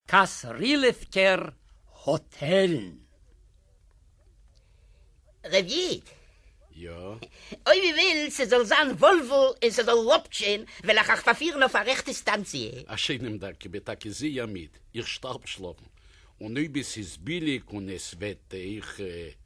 קאסרילעווקער האטעלן. רב איד, יא? אויב איר ווילט ס'זאל זיין וואלווא און ס'זאל לאפטשען, וועל איך אייך פארפירן אויף א רעכטע סטאנציע. א שיינעם דאנק, איך בין טאקע זייער מיד, איך שטארב שלאפן, און אויב עס איז ביליג און עס וועט אייך.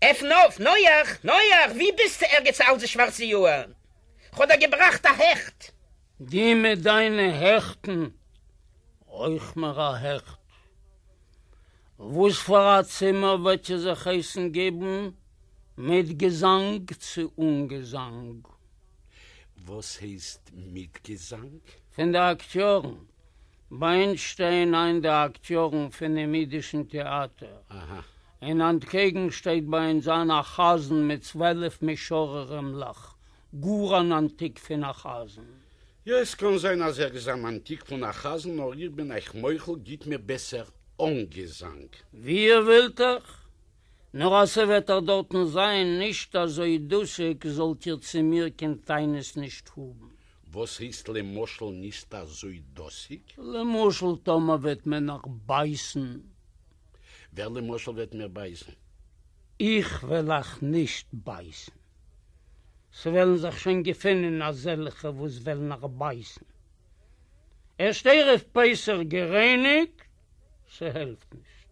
עפן אויף, נוח! נוח! ווי ביסטו ערגעץ אלזי שווארצע יאהר? כ'האב דיר געבראכט א העכט! די מיט דיינע העכטן! אויך מיר א העכט! וואס פאר א צימער וועט איר זיך הייסן געבן, מיט געזאנג צו אן געזאנג? וואס הייסט מיט געזאנג? פון די אקטיארן. בײַנד שטײען אײַן די אַקטיאָרן פֿונעם ייִדישן טעאַטער. אין אַנטקעגן שטײט בײַ אונדז אײַן אַ חזן מיט צוועלף משוררימלעך, גאָר אַן אַנטיק פֿון אַ חזן. יאָ, עס קאָן זײַן, אַז ער איז אַן אַנטיק פֿון אַ חזן, נאָר איך בין אײַך מוחל, גיט מיר בעסער אָן געזאַנג. װי איר װילט, איך נאָר אַז ס'װעט ער דאָרטן זײַן נישט אַזױ דאָסיק, זאָלט איר צו מיר קײן טענות נישט האָבן. װאָס הײסט, למשל, נישט אַזױ דאָסיק? למשל, טאָמער װעט מען נאָך בײַסן. װער, למשל, װעט מיר בײַסן? איך װעל אײַך נישט בײַסן. ס'װעלן זיך שױן געפֿינען אַזעלכע, װאָס װעלן אײַך בײַסן. ערשט ערבֿ-פּסח גערײניקט, ס'העלפֿט נישט.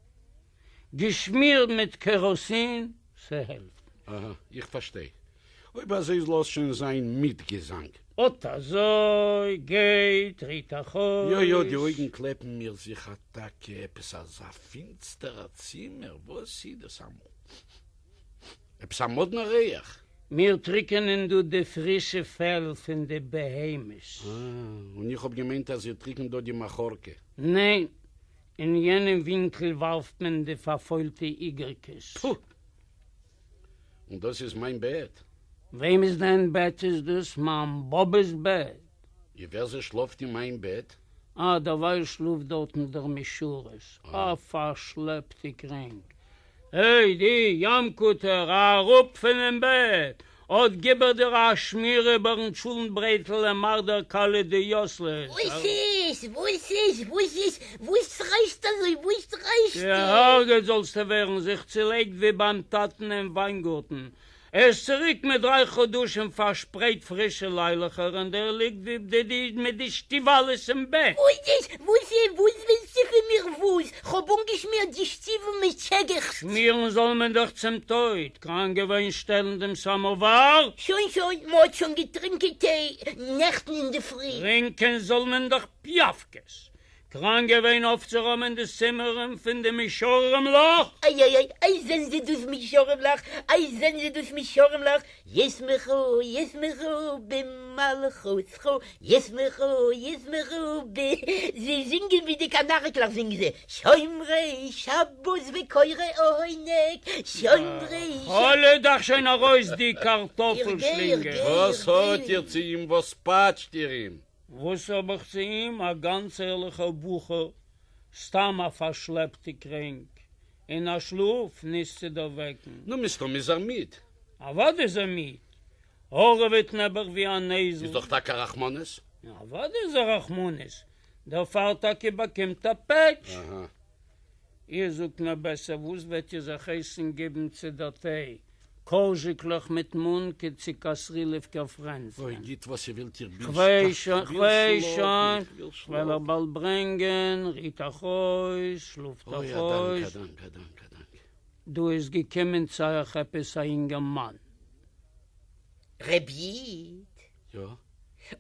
געשמירט מיט קעראסין, ס'העלפט. אהה, איך פארשטיי. אויב אזוי לאז שוין זיין מיט געזאנג. אט אזוי, גיי טריט א חוץ. יא יא, די אויגן קלעפן מיר זיך אטאקע, עפעס אזא פינסטערע צימער, וואס איז דאס אמאל? עפעס א מאדנע ריח. מיר טריקענען דא די פרישע פעל פון די בהמות. אה, און איך האב געמיינט אז איר טריקנט דא די מאחורקע. ניין, אין יענעם ווינקל ווארפט מען די פארפוילטע איגרקעס. טפו! און דאס איז מיין בעט? וועמעס דען בעט איז דאס? מיין באבע'ס בעט. און ווער זי שלאפט אין מיין בעט? אה, דערווייל שלאפט דארטן דער משרת. אה, פארשלעפטע קרענק. העי די יאמקוטער, א אראפ פונעם בעט! אט גיב איך דיר א שמיר איבערן טשולנט ברעטל און מאך דער כלה די יוסלעס! וואס איז? וואס איז? וואס איז? וואס שרייסטו אזוי? וואס שרייסטו? גע'הרג'עט זאלסטו ווערן, זיך צולייגט ווי ביים טאטן אין וויינגארטן, ער איז צוריק מיט דריי חדשים פארשפרייט פרישע ליילעכער און דער ליגט ווי ב ד מיט די שטיוואלעס אין בעט. חודש! וואס אה וואס ווילסטו פון מיר וואס? כ'האב אנגעשמירט די שטיוול מיט שגץ. שמירן זאל מען דאך צום טויט, קראנק געווען שטעלן דעם סאמאוואר? שוין שוין, מ'האט שוין געטרינקען טיי נעכטן אינדערפרי. טרינקען זאל מען דאך פיאפקעס, דראן געווען אויפצורוימען די צימערען פון די מישארים לאך. איי איי איי איי זענען זיי דאס מישארים לאך, איי זענען זיי דאס מישארים לאך, ישמחו ישמחו במלכותך, ישמחו ישמחו ב. זיי זינגען ווי די קאנאריקלעך זינגען זיי, שומרי שבת וקוראי עונג, שומרי שבת. האלע דאך שוין ארויס די קארטאפל שלינגער. וואס האט איר צו אים? וואס פאטשט איר אים? וואס האב איך צו אים, א גאנץ ערליכער בחור, סתם א פארשלעפטע קרענק, אין א שלאף נישט צו דערוועקן. נו, מסתם איז ער מיד. אוודאי איז ער מיד. הארעוועט נעבעך ווי א נעזל. איז דאך טאקע א רחמנות. אוודאי איז א רחמנות. דערפאר טאקע באקומט ער פעטש. אהה. איר זאָגט מיר בעסער, װאָס װעט איר זיך הײסן געבן צו דער טײ? קאָרזשיקלעך מיט מאָנקע צי קאַסרילעװקער פֿרענדזלען? גיט װאָס איר װילט, איך בין שטאַרק, איך װיל שלאָפֿן, איך װיל שלאָפֿן. כ'װעל איר באַלד ברענגען, רוט אײַך אױס, שלאָפֿט אײַך אױס. אױ, אַ דאַנק, אַ דאַנק, אַ דאַנק, אַ דאַנק. דאָ איז געקומען צו אײַך עפּעס אַ יונגער מאַן. רב ייִד, יא,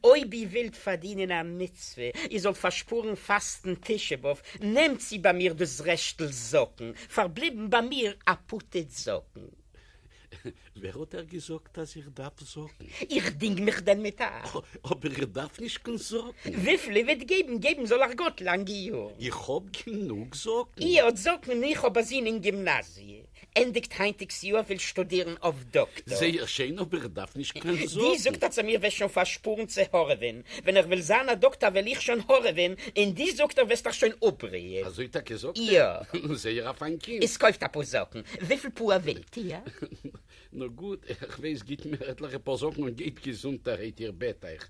אויב איר ווילט פארדינען א מצוה איר זאלט פארשפארן פאסטן תשעה באב, נעמט צו ביי מיר דאס רעשטל זאקן, פארבליבן ביי מיר א פוטעט זאקן. ווער האט דיר געזאגט אז איך דארף זאקן? איך דינג מיך דען מיט א. אבער איך דארף נישט קיין זאקן. וויפיל איר וועט געבן, געבן זאל אייך גאט לאנגע יארן. איך האב גענוג זאקן. איר האט זאקן? איך האב א זון אין גימנאזיע. ענדיגט היינטיגס יאר וויל שטודירן אויף דאקטאר. זייער שיין אבער איך דארף נישט קיין זאקן. די זאגט אז מיר וועסט שוין פארשפארן צו הארעווען, ווען איך וויל זיין א דאקטאר וועל איך שוין הארעווען, און די זאגט איך וועסט דיך שוין אפבריען. אזוי טאקע זאגט ער? נו זייער א פיין קינד. איז קויפט אפאר זאקן, וויפיל פאר ווילט איר? נו גוט, איך ווייס גיט מיר עטליכע פאר זאקן און גייט געזונטערהייט איר בעט איך.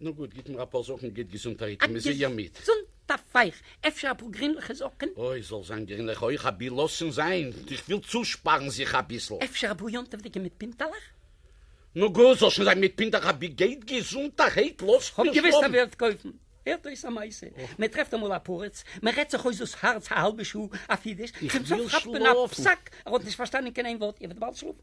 נו גוט, גיט מיר אפאר זאקן גוט געזונטערהייט און מ'זע יא מיט. א געזונטע פייך, אפשר אפאר גרינליכע זאקן? אוי, זאל זיין גרינליכע אויך אבי לאז שוין זיין, איך וויל צושפארן זיך אביסל. אפשר אפאר יום טוב'דיגע מיט פינטעלעך? נו גוט, זאל שוין זיין מיט פינטעלעך אבי גוט געזונטערהייט, לאז מיר שלאפן. כ'האב געוואוסט אז מ'וועט קויפן. הערט אויס א מעשה, מ'טרעפט אמאל א פרץ, מ'רעדט זיך אויס דאס הארץ א האלבע שעה אויף אידיש, צום סוף כאפט מען א פסק, ער האט נישט פארשטאנען קיין איין ווארט, איר וועט באלד שלאפן.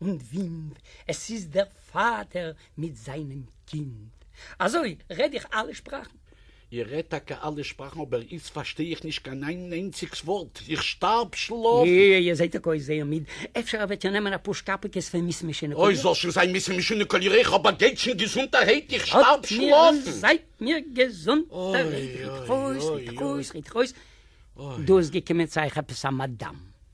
און ווינט, עס איז דער פֿאָטער מיט זײַנעם קינד. אַזוי רעד איך אַלע שפּראַכן. איך רעד טאַקע אַלע שפּראַכן, אָבער איצט פֿאַרשטיי איך נישט קיין איין איינציקס וואָרט. איך שטאַרב שלאָפֿן. איר זעט טאָקע אויס זייער מיד. אפֿשר איר וועט איר נעמען אַ פּאָר שקאַפּיקעס פֿון מיס משונקעלע? אוי, זאָל שוין זײַן מיס משונקעלע, איך האָב אַ געטשן געזונטערהייט, איך שטאַרב שלאָפֿן. זײַט מיר געזונט, רעד איך אויס, רעד איך אויס, רעד איך אויס. דאָ איז געקומען צו אײַך עפּעס אַ מאַדאַם.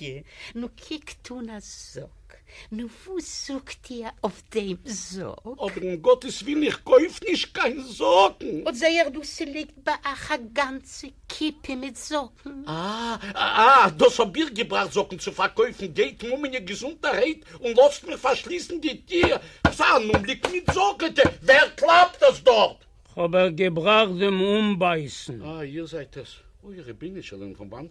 ג, נו קוקט אן א זאק, נו וואס זאגט איר אויף דעם זאק? אבער אין גאטעס ווילן איך קויף נישט קיין זאקן. אט זעה איך דא ס'ליגט ביי אייך א גאנצע קיפע מיט זאקן. אה אה דאס האב איך געבראכט זאקן צו פארקויפן, גייט מומעניו געזונטערהייט און לאזט מיר פארשליסן די טיר פאר אן אומגליק מיט זאקן, ט, ווער קלאפט דאס דארט? כ'האב ער געבראכט דעם אנבייסן. אה איר זייט עס, אוי רבינו של עולם פון וואנט